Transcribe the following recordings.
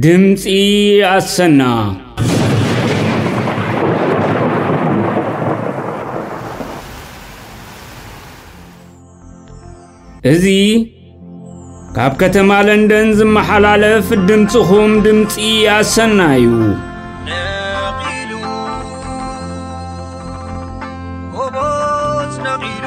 ድምፂ ኣሰና እዚ ካብ ከተማ ለንደን ዝመሓላለፍ ድምፅኹም ድምፂ ኣሰና እዩ ነቒሉ ጎቦዝ ነቒሉ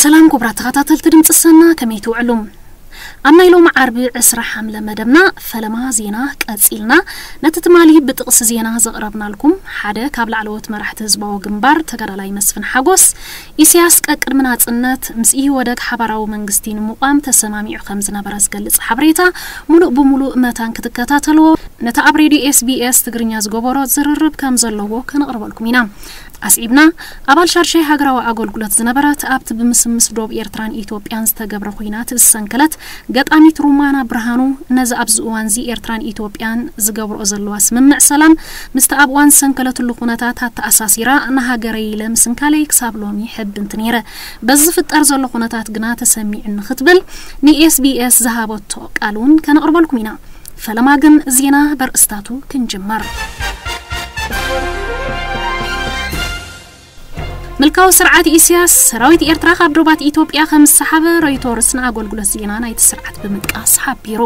ሰላም ኩቡራት ተኸታተልቲ ድምጺ ሰና ከመይ ትውዕሉ ኣብ ናይ ሎሚ ዓርቢ ዕስራ ሓምለ መደብና ፈለማ ዜና ቀጺልና ነቲ ትማሊ ብጥቕሲ ዜና ዘቕረብናልኩም ሓደ ካብ ላዕለዎት መራሕቲ ህዝባዊ ግንባር ተጋዳላይ መስፍን ሓጎስ ኢሰያስ ቀቅድሚ ናጽነት ምስ ኢህወደግ ሓባራዊ መንግስቲ ንምቋም ተሰማሚዑ ከም ዝነበረ ዝገልጽ ሓበሬታ ሙሉእ ብሙሉእ መታን ክትከታተልዎ ነቲ ኣብ ሬድዮ ኤስቢኤስ ትግርኛ ዝገበሮ ዝርርብ ከም ዘለዎ ከነቕርበልኩም ኢና ኣስዒብና፣ ኣባል ሻድሻይ ሃገራዊ ኣገልግሎት ዝነበረት፣ ኣብቲ ብምስምስ ዶብ ኤርትራን ኢትዮጵያን ዝተገብረ ኹናት ዝሰንከለት ገጣሚት ሩማና ብርሃኑ፣ ነዚ ኣብዚ እዋንዚ ኤርትራን ኢትዮጵያን ዝገብርኦ ዘለዋ ስምምዕ ሰላም፣ ምስቲ ኣብ እዋን ዝሰንከለትሉ ኩነታት ኣተኣሳሲራ፣ ንሃገረይ ኢለ ምስንካለይ ክሳብ ሎሚ ሕብንት ነይረ፣ በዚ ዝፍጠር ዘሎ ኩነታት ግና ተሰሚዑኒ ክትብል ንኤስቢኤስ ዝሃበቶ ቃል'ውን ከነቕርበልኩም ኢና። ፈለማ ግን ዜና በርእስታቱ ክንጅምር። ምልካዊ ስርዓት ኢስያስ ሰራዊት ኤርትራ ካብ ዶባት ኢትዮጵያ ከም ዝሰሓበ ሮይቶርስ ንኣገልግሎት ዜና ናይቲ ስርዓት ብምጥቃስ ሓቢሩ።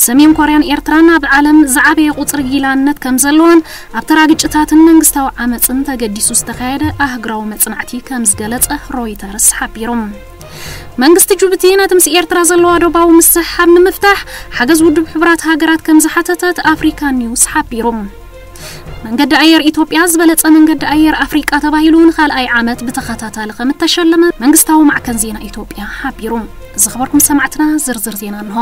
ሰሜን ኮርያን ኤርትራን ኣብ ዓለም ዝዓበየ ቁጽሪ ጊላነት ከም ዘለወን ኣብ ተራ ግጭታትን መንግስታዊ ዓመጽን ተገዲሱ ዝተኻየደ ኣህግራዊ መጽናዕቲ ከም ዝገለጸ ሮይተርስ ሓቢሩ። መንግስቲ ጁቡቲ ነቲ ምስ ኤርትራ ዘለዋ ዶባዊ ምስሕሓብ ንምፍታሕ ሓገዝ ውድብ ሕቡራት ሃገራት ከም ዝሓተተት ኣፍሪካ ኒውስ ሓቢሩ። መንገዲ ኣየር ኢትዮጵያ ዝበለጸ መንገዲ ኣየር ኣፍሪቃ ተባሂሉ ንኻልኣይ ዓመት ብተኸታታሊ ከም እተሸለመ መንግስታዊ ማዕከን ዜና ኢትዮጵያ ሓቢሩ። ዝኸበርኩም ሰማዕትና ዝርዝር ዜና እንሆ።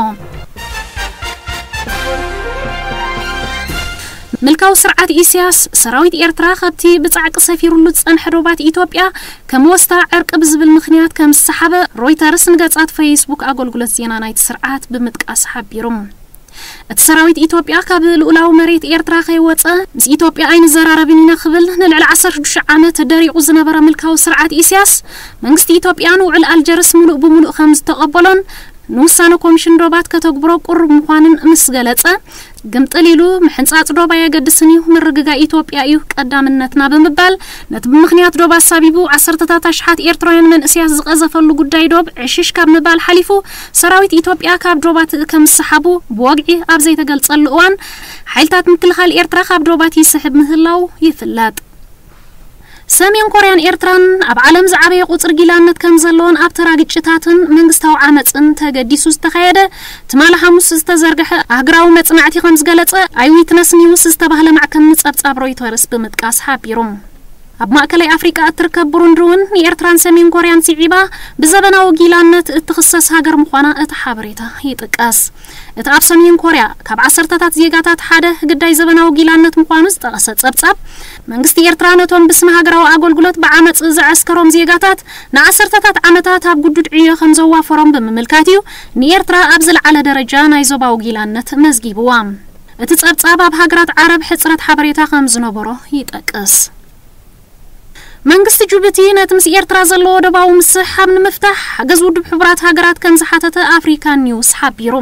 ምልካዊ ስርዓት ኢሲያስ፣ ሰራዊት ኤርትራ ካብቲ ብጻዕቂ ሰፊሩሉ ዝጸንሐ ዶባት ኢትዮጵያ ከም ወስታ ዕርቂ ብዝብል ምኽንያት ከም ዝሰሓበ ሮይተርስ ንገጻት ፈይስቡክ ኣጎልጉለት ዜና ናይቲ ስርዓት ብምጥቃስ ሓቢሩ። እቲ ሰራዊት ኢትዮጵያ ካብ ልኡላዊ መሬት ኤርትራ ከይወጸ ምስ ኢትዮጵያ ኣይንዘራረብን ኢና ክብል ንልዕሊ ዓሰርተ ሽዱሽተ ዓመት ደሪቑ ዝነበረ ምልካዊ ስርዓት ኢሲያስ መንግስቲ ኢትዮጵያ ንውዕል ኣልጀርስ ምሉእ ብምሉእ ከም ዝተቐበሎን ንውሳነ ኮምሽን ዶባት ከተግብሮ ቅሩብ ምዃንን ምስ ገለጸ ግምጥል ኢሉ ምሕንጻጽ ዶብ ኣየገድስን እዩ፣ ምርግጋእ ኢትዮጵያ እዩ ቀዳምነትና ብምባል፣ ነቲ ብምኽንያት ዶብ ኣሳቢቡ ዓሰርተታት ኣሽሓት ኤርትራውያን መንእሰያት ዝቐዘፈሉ ጉዳይ ዶብ ዕሽሽ ካብ ምባል ሓሊፉ፣ ሰራዊት ኢትዮጵያ ካብ ዶባት ከምስሓቡ ብወግዒ ኣብ ዘይተገልጸሉ እዋን፣ ሓይልታት ምክልኻል ኤርትራ ካብ ዶባት ይስሕብ ምህላዉ ይፍለጥ። ሰሜን ኮርያን ኤርትራን ኣብ ዓለም ዝዓበየ ቁጽሪ ጊላነት ከም ዘለወን ኣብ ተራ ግጭታትን መንግስታዊ ዓመጽን ተገዲሱ ዝተኻየደ ትማሊ ሓሙስ ዝተዘርግሐ ኣህግራዊ መጽናዕቲ ከም ዝገለጸ ኣይዊትነስ ኒውስ ዝተባህለ ማዕከን ንጸብጻብ ሮይተርስ ብምጥቃስ ሓቢሩ። ኣብ ማእከላይ ኣፍሪቃ እትርከብ ብሩንዲ እውን ንኤርትራን ሰሜን ኮርያን ስዒባ ብዘበናዊ ጊላነት እትኽሰስ ሃገር ምዃና እቲ ሓበሬታ ይጥቀስ። እቲ ኣብ ሰሜን ኮርያ ካብ ዓሰርተታት ዜጋታት ሓደ ግዳይ ዘበናዊ ጊላነት ምዃኑ ዝጠቐሰ ጸብጻብ፣ መንግስቲ ኤርትራ ነቶም ብስመ ሃገራዊ ኣገልግሎት ብዓመጽ ዘዐስከሮም ዜጋታት ንዓሰርተታት ዓመታት ኣብ ግዱድ ዕዮ ከም ዘዋፈሮም ብምምልካት እዩ ንኤርትራ ኣብ ዝለዓለ ደረጃ ናይ ዞባዊ ጊላነት መዝጊብዋ። እቲ ጸብጻብ ኣብ ሃገራት ዓረብ ሕጽረት ሓበሬታ ከም ዝነበሮ ይጠቅስ። መንግስቲ ጁቡቲ ነቲ ምስ ኤርትራ ዘለዎ ዶባዊ ምስሕሓብ ንምፍታሕ ሓገዝ ውድብ ሕቡራት ሃገራት ከም ዝሓተተ ኣፍሪካ ኒውስ ሓቢሩ።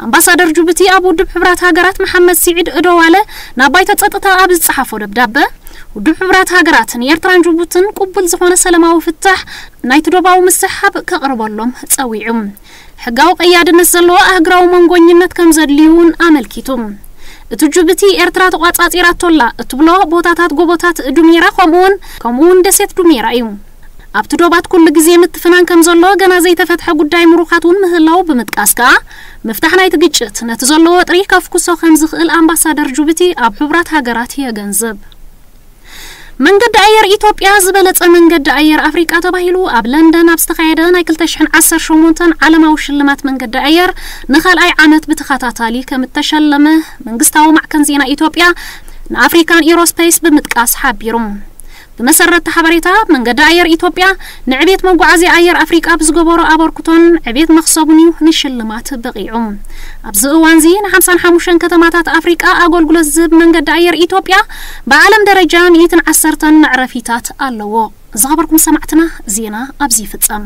ኣምባሳደር ጁቡቲ ኣብ ውድብ ሕቡራት ሃገራት መሓመድ ሲዒድ እዶዋለ ናብ ባይቶ ጸጥታ ኣብ ዝጸሓፎ ደብዳበ፣ ውድብ ሕቡራት ሃገራት ንኤርትራን ጁቡትን ቅቡል ዝኾነ ሰለማዊ ፍታሕ ናይቲ ዶባዊ ምስሕሓብ ከቕርበሎም ጸዊዑ። ሕጋዊ ቀያድነት ዘለዎ ኣህግራዊ መንጎኝነት ከም ዘድልዩ'ውን ኣመልኪቱ። እቲ ጁብቲ ኤርትራ ተቋጻጺራቶ ኣላ እትብሎ ቦታታት ጎቦታት ዱሜራ ከምኡ'ውን ከምኡ'ውን ደሴት ዱሜራ እዩ። ኣብቲ ዶባት ኩሉ ግዜ ምትፍናን ከም ዘሎ ገና ዘይተፈትሐ ጉዳይ ምሩኻት እውን ምህላዉ ብምጥቃስ ከኣ ምፍታሕ ናይቲ ግጭት ነቲ ዘሎ ወጥሪ ከፍኩሶ ከም ዝኽእል ኣምባሳደር ጁብቲ ኣብ ሕቡራት ሃገራት የገንዝብ። መንገዲ ኣየር ኢትዮጵያ ዝበለጸ መንገዲ ኣየር ኣፍሪቃ ተባሂሉ ኣብ ለንደን ኣብ ዝተኻየደ ናይ ክልተ ሽሕን ዓሰርተ ሸሞንተን ዓለማዊ ሽልማት መንገዲ ኣየር ንካልኣይ ዓመት ብተኸታታሊ ከም እተሸለመ መንግስታዊ ማዕከን ዜና ኢትዮጵያ ንኣፍሪካን ኢሮስፐይስ ብምጥቃስ ሓቢሩ። ብመሰረትቲ ሓበሬታ መንገዲ ኣየር ኢትዮጵያ ንዕቤት መጓዓዝያ ኣየር ኣፍሪቃ ብዝገበሮ ኣበርክቶን ዕቤት መኽሰቡን'ዩ ንሽልማት በቒዑ። ኣብዚ እዋንዚ ንሓምሳን ሓሙሽተን ከተማታት ኣፍሪቃ ኣገልግሎት ዝህብ መንገዲ ኣየር ኢትዮጵያ፣ ብዓለም ደረጃ ሚእትን ዓሰርተን መዕረፊታት ኣለዎ። ዝኸበርኩም ሰማዕትና ዜና ኣብዚ ይፍጸም።